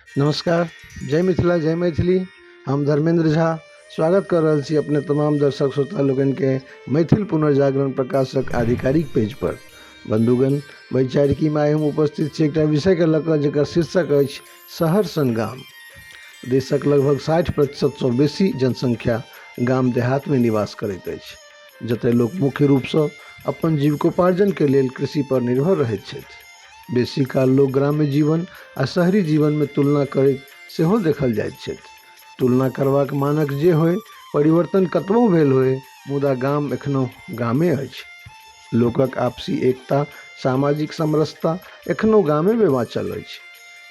नमस्कार जय मिथिला जय मैथिली हम धर्मेन्द्र झा स्वागत कऽ रहल छी अपने तमाम दर्शक श्रोता लोकनिके मैथिल पुनर्जागरण प्रकाशक आधिकारिक पेजपर बन्धुगण वैचारिकीमे आइ हम उपस्थित छी एकटा विषयके लऽ कऽ जकर शीर्षक अछि शहर सन गाम देशक लगभग साठि प्रतिशतसँ बेसी जनसङ्ख्या गाम देहातमे निवास करैत अछि जतय लोक मुख्य रूपसँ अपन जीविकोपार्जनके लेल कृषिपर निर्भर रहैत छथि बेसी काल लोक ग्राम्य जीवन आ शहरी जीवनमे तुलना करैत सेहो देखल जाइत छथि तुलना करबाक मानक जे होइ परिवर्तन कतबो भेल होइ मुदा गाम एखनो गामे अछि लोकक आपसी एकता सामाजिक समरसता एखनो गामेमे बाँचल अछि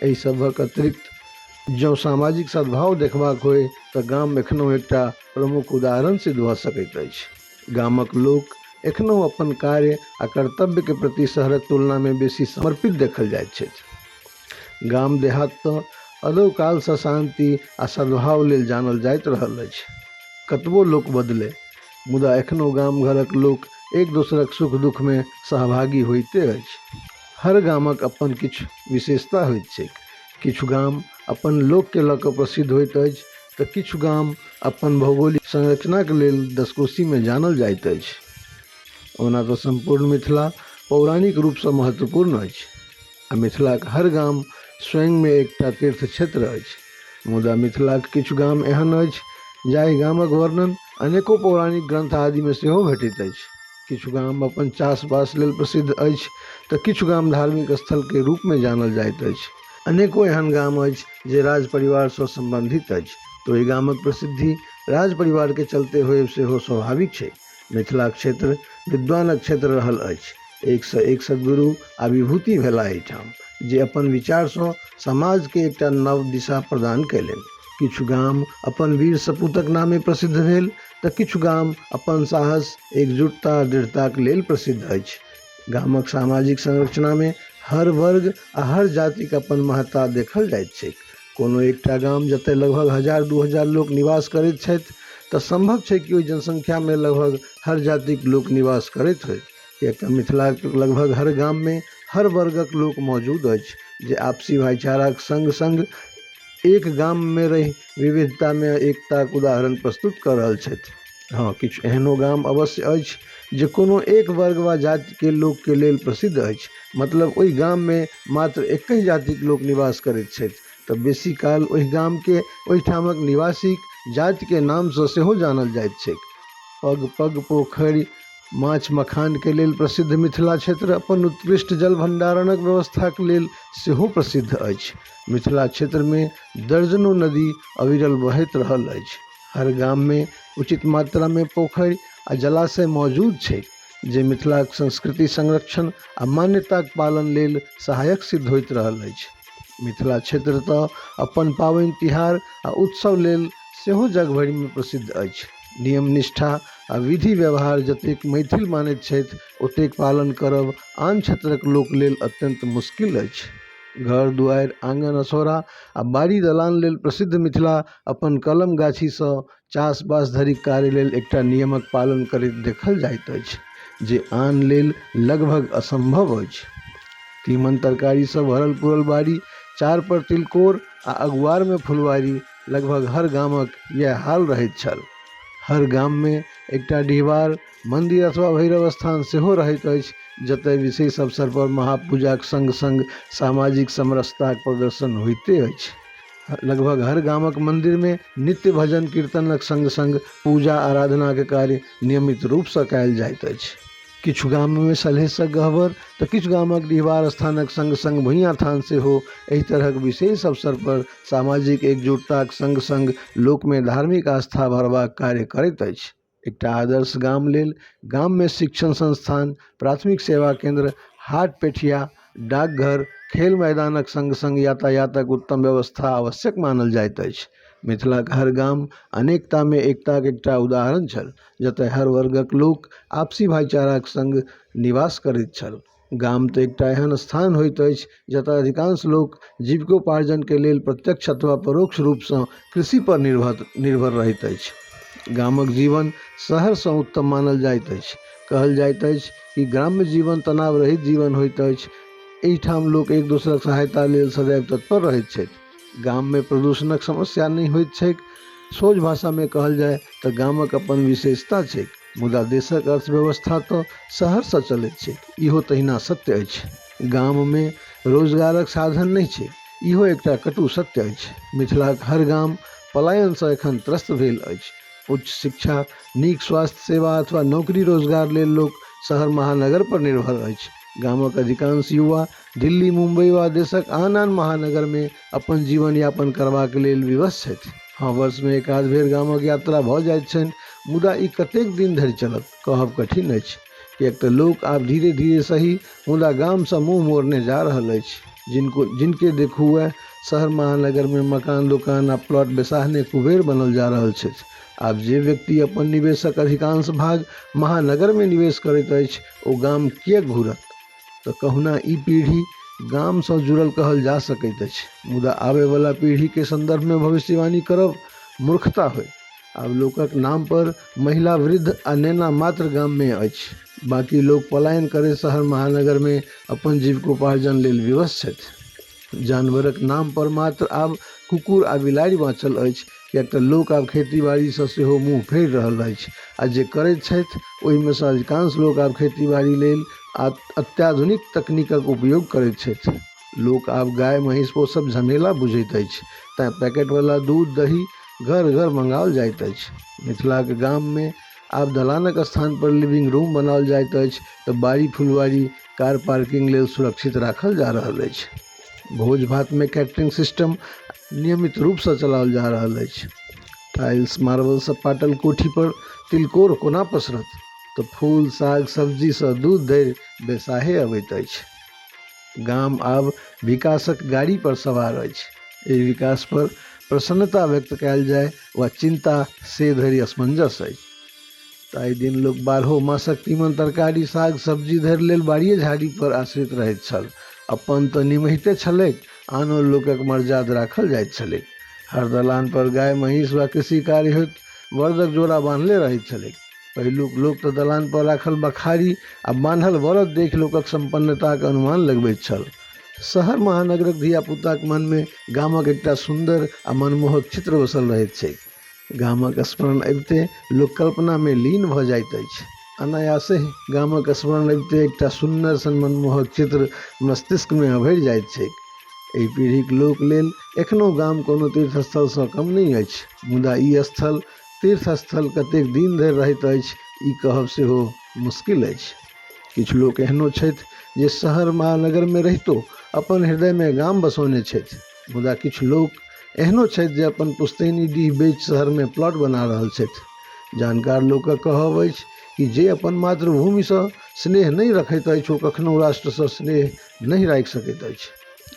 एहि सभक अतिरिक्त जँ सामाजिक सद्भाव देखबाक होइ तऽ गाम एखनो एकटा प्रमुख उदाहरण सिद्ध भऽ सकैत अछि गामक लोक एखनहु अपन कार्य आ कर्तव्य के प्रति शहरक तुलना में बेसी समर्पित देखल जाइत छथि। गाम देहात त अदौ काल सँ शांति आ सद्भाव लेल जानल जाइत रहल अछि। कतबो लोक बदले मुदा एखनहु गाम घरक लोक एक दोसरक सुख दुख में सहभागी होइते अछि। हर गामक अपन किछु विशेषता होइत छैक। किछु गाम अपन लोक के लऽ कऽ प्रसिद्ध होइत अछि। तँ किछु गाम अपन भौगोलिक संरचनाक लेल दसकोशीमे जानल जाइत अछि। ओना तँ सम्पूर्ण मिथिला पौराणिक रूपसँ महत्वपूर्ण अछि आ मिथिलाक हर गाम स्वयंमे एकटा तीर्थक्षेत्र अछि। मुदा मिथिलाक किछु गाम एहन अछि जाहि गामक वर्णन अनेको पौराणिक ग्रन्थ आदिमे सेहो भेटैत अछि। किछु गाम अपन चास-बास लेल प्रसिद्ध अछि तँ किछु गाम धार्मिक स्थलकेँ रूपमे जानल जाइत अछि। अनेको एहन गाम अछि जे राज परिवारसँ सम्बन्धित अछि तऽ ओहि गामक प्रसिद्धि राज परिवारके चलते होयब सेहो स्वाभाविक छै मिथिलाक क्षेत्र विद्वानक क्षेत्र रहल अछि एकसँ एक सदगुरु आ विभूति भेला एहिठाम जे अपन विचारसँ समाजके एकटा नव दिशा प्रदान कयलनि किछु गाम अपन वीर सपूतक नामे प्रसिद्ध भेल तऽ किछु गाम अपन साहस एकजुटता दृढ़ताक लेल प्रसिद्ध अछि गामक सामाजिक संरचनामे हर वर्ग आ हर जातिक अपन महत्ता देखल जाइत छैक। कोनो एकटा गाम जतय लगभग हजार दू हजार लोक निवास करैत छथि तँ संभव छैक कि ओहि जनसंख्यामे लगभग हर जातिक लोक निवास करैत होथि। किएक तँ मिथिलाक लगभग हर गाममे हर वर्गक लोक मौजूद अछि जे आपसी भाइचाराक संग-संग एक गाममे रहि विविधतामे एकताक उदाहरण प्रस्तुत कऽ रहल छथि हँ किछु एहनो गाम अवश्य अछि जे कोनो एक वर्ग वा जातिके लोकके लेल प्रसिद्ध अछि मतलब ओहि गाममे मात्र एके जातिक लोक निवास करैत छथि तऽ बेसी काल ओहि गामके ओहिठामक निवासीक जातिके नामसँ सेहो जानल जाइत छैक पग पग पोखरि माछ मखानके लेल प्रसिद्ध मिथिला क्षेत्र अपन उत्कृष्ट जल भण्डारणक व्यवस्थाके लेल सेहो प्रसिद्ध अछि मिथिला क्षेत्रमे दर्जनो नदी अविरल बहैत रहल अछि हर गाममे उचित मात्रामे पोखरि आओर जलाशय मौजूद छै जे मिथिलाके संस्कृति संरक्षण आओर मान्यताके पालन लेल सहायक सिद्ध होइत रहल अछि मिथिला क्षेत्र तऽ अपन पाबनि तिहार आओर उत्सव लेल सेहो जगभरिमे प्रसिद्ध अछि नियम निष्ठा आओर विधि व्यवहार जतेक मैथिल मानैत छथि ओतेक पालन करब आन क्षेत्रके लोक लेल अत्यन्त मुश्किल अछि घर दुआरि आँगन असोरा आ बाड़ी दलान लेल प्रसिद्ध मिथिला अपन कलम गाछीसँ चास बास धरिक कार्य लेल एकटा नियमक पालन करैत देखल जाइत अछि जे आन लेल लगभग असम्भव अछि तीमन तरकारीसँ भरल पुरल बाड़ी चार पर तिलकोर आ अगुआरमे फुलवारी लगभग हर गामक इएह हाल रहैत छल हर गाममे एकटा डिहबार मन्दिर अथवा भैरव स्थान सेहो रहैत अछि जतऽ विशेष अवसरपर महापूजाके सङ्ग सङ्ग सामाजिक समरसताके प्रदर्शन होइते अछि लगभग हर गामके मन्दिरमे नित्य भजन कीर्तनके सङ्ग सङ्ग पूजा आराधनाके कार्य नियमित रूपसँ कएल जाइत अछि किछु गाममे सलहेसक गहबर तऽ किछु गामक डिहबार स्थानक सङ्ग सङ्ग भुइयाँ थान सेहो एहि तरहक विशेष अवसर पर सामाजिक एकजुटताक सङ्ग सङ्ग लोकमे धार्मिक आस्था भरबाक कार्य करैत अछि एकटा आदर्श गाम लेल गाममे शिक्षण संस्थान प्राथमिक सेवा केन्द्र हाट पेठिया डाकघर खेल मैदानक सङ्ग सङ्ग यातायातक उत्तम व्यवस्था आवश्यक मानल जाइत अछि मिथिलाक हर गाम अनेकतामे एकताक एकटा उदाहरण छल जतय हर वर्गक लोक आपसी भाइचाराक सङ्ग निवास करैत छल गाम तऽ एकटा एहन स्थान होइत अछि जतऽ अधिकांश लोक जीविकोपार्जनके लेल प्रत्यक्ष अथवा परोक्ष रूपसँ कृषिपर निर्भर निर्भर रहैत अछि गामक जीवन शहरसँ उत्तम मानल जाइत अछि कहल जाइत अछि कि ग्राम्य जीवन तनाव रहैत जीवन होइत अछि एहिठाम लोक एक दोसरक सहायता लेल सदैव तत्पर रहैत छथि गाममे प्रदूषणक समस्या नहि होइत छैक सोझ भाषामे कहल जाय तऽ गामक अपन विशेषता छैक मुदा देशक अर्थव्यवस्था तँ शहरसँ चलैत छैक, ईहो तहिना सत्य अछि। गाममे रोजगारक साधन नहि छैक, ईहो एकटा कटु सत्य अछि। मिथिलाक हर गाम पलायनसँ एखन त्रस्त भेल अछि। उच्च शिक्षा, नीक स्वास्थ्य सेवा अथवा नौकरी-रोजगार लेल लोक शहर-महानगरपर निर्भर अछि। गामक अधिकांश युवा दिल्ली, मुम्बई वा देशक आन-आन महानगरमे अपन जीवन यापन करबाक लेल विवश छथि हँ वर्षमे एकाध बेर गामक यात्रा भऽ जाइत छनि मुदा ई कतेक दिन धरि चलत कहब कठिन अछि किएक तऽ लोक आब धीरे धीरे सही मुदा गामसँ मुँह मोड़ने जा रहल अछि जिनको जिनके देखू वएह शहर महानगरमे मकान दोकान आ प्लॉट बेसाहने कुबेर बनल जा रहल छथि आब जे व्यक्ति अपन निवेशक अधिकांश भाग महानगरमे निवेश करैत अछि ओ गाम किएक घूरत तऽ कहुना ई पीढ़ी गामसँ जुड़ल कहल जा सकैत अछि मुदा आबयवला पीढ़ीके सन्दर्भमे भविष्यवाणी करब मूर्खता होय आब लोकक नामपर महिला वृद्ध आ नेना मात्र गाममे अछि बाँकी लोक पलायन करैत शहर महानगरमे अपन जीविकोपार्जन लेल विवश छथि जानवरक नाम पर मात्र आब कुकुर आ बिलाड़ि बाँचल अछि किएक तऽ लोक आब खेती बाड़ीसँ सेहो मुँह फेर रहल अछि आ जे करैत छथि ओहिमेसँ अधिकांश लोक आब खेती बाड़ी लेल अत्याधुनिक तकनीकक उपयोग करैत छथि लोक आब गाय महीस पोसब झमेला बुझैत अछि तैँ पैकेटवला दूध दही घर घर मँगाओल जाइत अछि मिथिलाके गाममे आब दलानक स्थान पर लिविंग रूम बनाओल जाइत अछि तऽ बाड़ी फुलवाड़ी कार पार्किंग लेल सुरक्षित राखल जा रहल अछि भोज भात मे कैटरिंग सिस्टम नियमित रूप सऽ चलाओल जा रहल अछि टाइल्स मार्बल सऽ पाटल कोठी पर तिलकोर कोना पसरत तऽ फूल साग सब्जी सऽ दूध धरि बेसाहे अबैत अछि। गाम आब विकासक गाड़ी पर सवार अछि। एहि विकास पर प्रसन्नता व्यक्त कयल जाय वा चिन्ता से धरि असमंजस अछि। ताहि दिन लोक बारहो मासक तीमन तरकारी, साग, सब्जी धरि लेल बाड़िये झाड़ी पर आश्रित रहैत छल। अपन तँ निमहिते छलैक, आनो लोकक मरजाद राखल जाइत छलैक। हर दलान पर गाय, महींस वा कृषि कार्य होइत बड़दक जोड़ा बान्हले रहैत छलैक। पहिलुक लोक तऽ दलानपर राखल बखारी आ बान्हल बड़द देख लोकक सम्पन्नताक अनुमान लगबैत छल शहर महानगरक धियापुताक मनमे गामक एकटा सुन्दर आ मनमोहक चित्र बसल रहैत छैक गामक स्मरण अबिते लोक कल्पनामे लीन भऽ जाइत अछि अनायासे गामक स्मरण अबिते एकटा सुन्दर सन मनमोहक चित्र मस्तिष्कमे अभरि जाइत छैक एहि पीढ़ीक लोक लेल एखनो गाम कोनो तीर्थस्थलसँ कम नहि अछि मुदा ई स्थल तीर्थ स्थल कतेक दिन धरि रहैत अछि ई कहब सेहो मुश्किल अछि किछु लोक एहनो छथि जे शहर महानगरमे रहितो अपन हृदयमे गाम बसौने छथि मुदा किछु लोक एहनो छथि जे अपन पुश्तैनी डीह बेच शहरमे प्लॉट बना रहल छथि जानकार लोकक कहब अछि कि जे अपन मातृभूमिसँ स्नेह नहि रखैत अछि ओ कखनो राष्ट्रसँ स्नेह नहि राखि सकैत अछि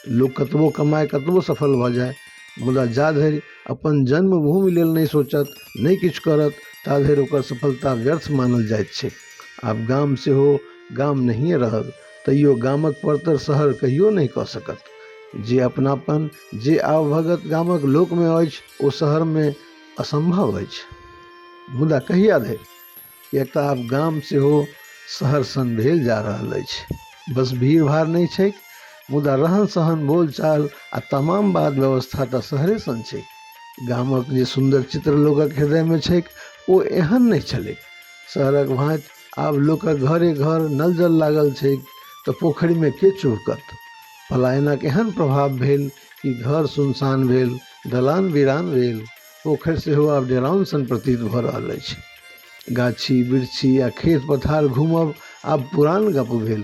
लोक कतबो कमाय कतबो सफल भऽ जाय मुदा जा धरि अपन जन्मभूमि लेल नहि सोचत नहि किछु करत ता धरि ओकर सफलता व्यर्थ मानल जाइत छै आब गाम सेहो गाम नहिए रहल तैयो गामक परतर शहर कहियो नहि कऽ सकत जे अपनापन जे आवभगत गामक लोकमे अछि ओ शहरमे असम्भव अछि मुदा कहिया धरि किएक तऽ आब गाम सेहो शहर सन भेल जा रहल अछि बस भीड़ भाड़ नहि छैक मुदा रहन सहन बोलचाल आ तमाम बात व्यवस्था तऽ शहरे सन छैक गामक जे सुन्दर चित्र लोकक हृदयमे छैक ओ एहन नहि छलैक शहरक भाँति आब लोकक घरे घर नल जल लागल छैक तऽ पोखरिमे के चुहकत पलायनक एहन प्रभाव भेल कि घर सुनसान भेल दलान वीरान भेल पोखरि सेहो आब डेरान सन प्रतीत भऽ रहल अछि गाछी वृक्षी आ खेत पथार घूमब आब पुरान गप भेल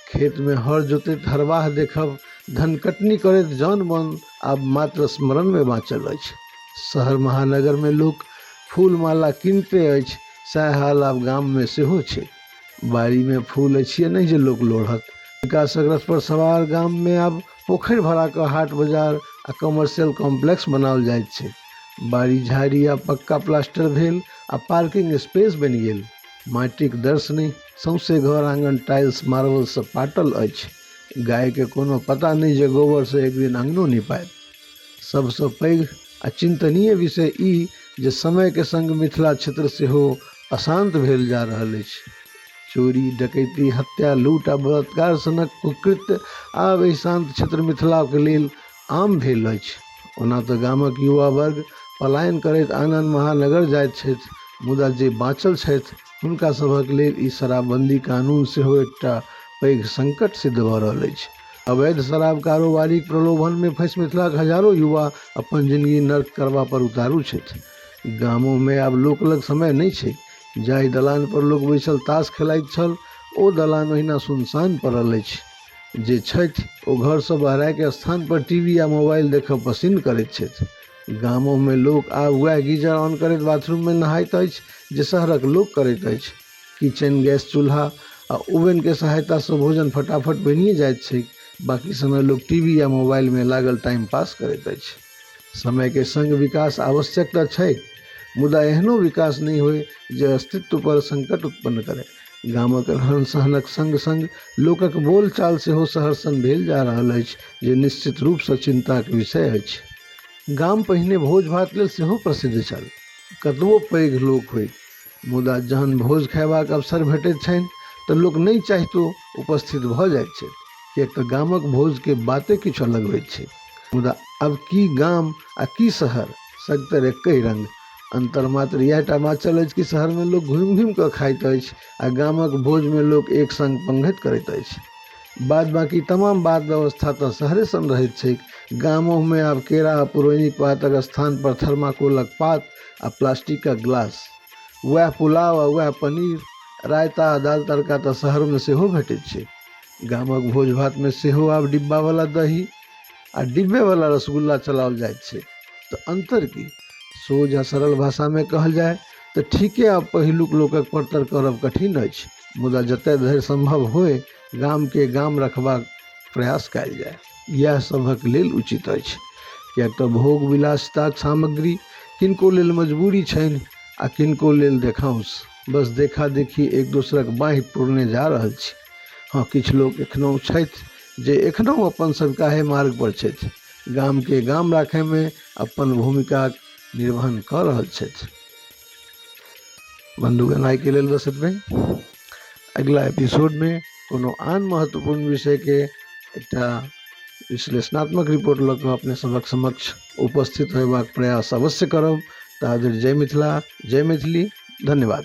खेतमे हर जोतैत हरवाह देखब धन कटनी करैत जन मन आब मात्र स्मरणमे बाँचल अछि शहर महानगरमे लोक फूल माला किनते अछि सएह हाल आब गाममे सेहो छै बाड़ीमे फूल अछि नहि जे लोक लोढ़त विकासक रथ पर सवार गाममे आब पोखरि भराके हाट बाजार आ कमर्शियल कॉम्प्लेक्स बनाओल जाइत छै बाड़ी झाड़ी आ पक्का प्लास्टर भेल आ पार्किंग स्पेस बनि गेल माटिक दर्शनी सौंसे घर आंगन टाइल्स मार्बल से पाटल अछि गाय के कोनो पता नहि जे गोबर से एक दिन अंगनो निपायत सबसँ पैघ आ चिंतनीय विषय ई जे समय के संग मिथिला क्षेत्र सेहो अशांत भेल जा रहल अछि चोरी डकैती हत्या लूट आ बलात्कार सनक कुकृत्य आब एहि शान्त क्षेत्र मिथिलाके लेल आम भेल अछि ओना तऽ गामक युवा वर्ग पलायन करैत आन आन महानगर जाइत छथि मुदा जे बाँचल छथि हुनका सभक लेल ई शराबबन्दी कानून सेहो एकटा पैघ संकट सिद्ध भऽ रहल अछि अवैध शराब कारोबारीक प्रलोभनमे फँसि मिथिलाक हजारो युवा अपन जिनगी नर्क करबा पर उतारू छथि गामोमे आब लोक लग समय नहि छै जाहि दलान पर लोक बैसल तास खेलाइत छल ओ दलान ओहिना सुनसान पड़ल अछि जे छथि ओ घर से बहराके स्थान पर टी वी आ मोबाइल देखब पसिन करैत छथि गामोमे लोक आब वएह गीजर ऑन करैत बाथरूममे नहाइत अछि जे शहरक लोक करैत अछि किचन गैस चूल्हा आ ओवनके सहायतासँ भोजन फटाफट बनिए जाइत छैक बाकी समय लोक टी वी या मोबाइलमे लागल टाइम पास करैत अछि समयके सङ्ग विकास आवश्यक तऽ छै मुदा एहनो विकास नहि होइ जे अस्तित्वपर सङ्कट उत्पन्न करै गामक रहन सहनक सङ्ग सङ्ग लोकक बोलचाल सेहो शहर सन भेल जा रहल अछि जे निश्चित रूपसँ चिन्ताक विषय अछि गाम पहिने भोज भात लेल सेहो प्रसिद्ध छल कतबो पैघ लोक होइ मुदा जहन भोज खयबाक अवसर भेटैत छनि तऽ लोक नहि चाहितो उपस्थित भऽ जाइत छथि किएक तऽ गामक भोजके बाते किछु अलग होइत छै मुदा अब की गाम आ की शहर सगतर एके रंग अन्तर मात्र इएह टा बाँचल अछि कि शहरमे लोक घुमि घुमि कऽ खाइत अछि आ गामक भोजमे लोक एक संग पंगैत करैत अछि बाद बाकी तमाम बात व्यवस्था तऽ शहरे सन रहैत छैक गामोमे आब केरा आ पुरैनक पातक स्थान पर थर्माकोलक पात आ प्लास्टिकके गिलास वएह पुलाव आओर वएह पनीर रायता आओर दालि तड़का तऽ शहरमे सेहो भेटै छै गामक भोज भातमे सेहो आब डिब्बावला दही आओर डिब्बेवला रसगुल्ला चलाओल जाइ छै तऽ अन्तर की सोझ आओर सरल भाषामे कहल जाइ तऽ ठीके आब पहिलुक लोकके परतर करब कठिन अछि मुदा जतऽ धरि सम्भव होइ गामके गाम रखबाक प्रयास कयल जाइ इएह सभक लेल उचित अछि किएक तऽ भोग विलासिताक सामग्री किनको लेल मजबूरी छनि आ किनको लेल देखाउस बस देखा देखी एक दोसरक बाँहि पूरने जा रहल छी हँ किछु लोक एखनहु छथि जे एखनहु अपन सभकाहे मार्गपर छथि गामके गाम राखयमे अपन भूमिकाक निर्वहन कऽ रहल छथि बन्दूक एनाइके लेल बस एतबे अगिला एपिसोडमे कोनो आन महत्वपूर्ण विषयके एकटा विश्लेषणात्मक रिपोर्ट लऽ कऽ अपने सभक समक्ष उपस्थित होयबाक प्रयास अवश्य करब ताधरि जय मिथिला जय मैथिली धन्यवाद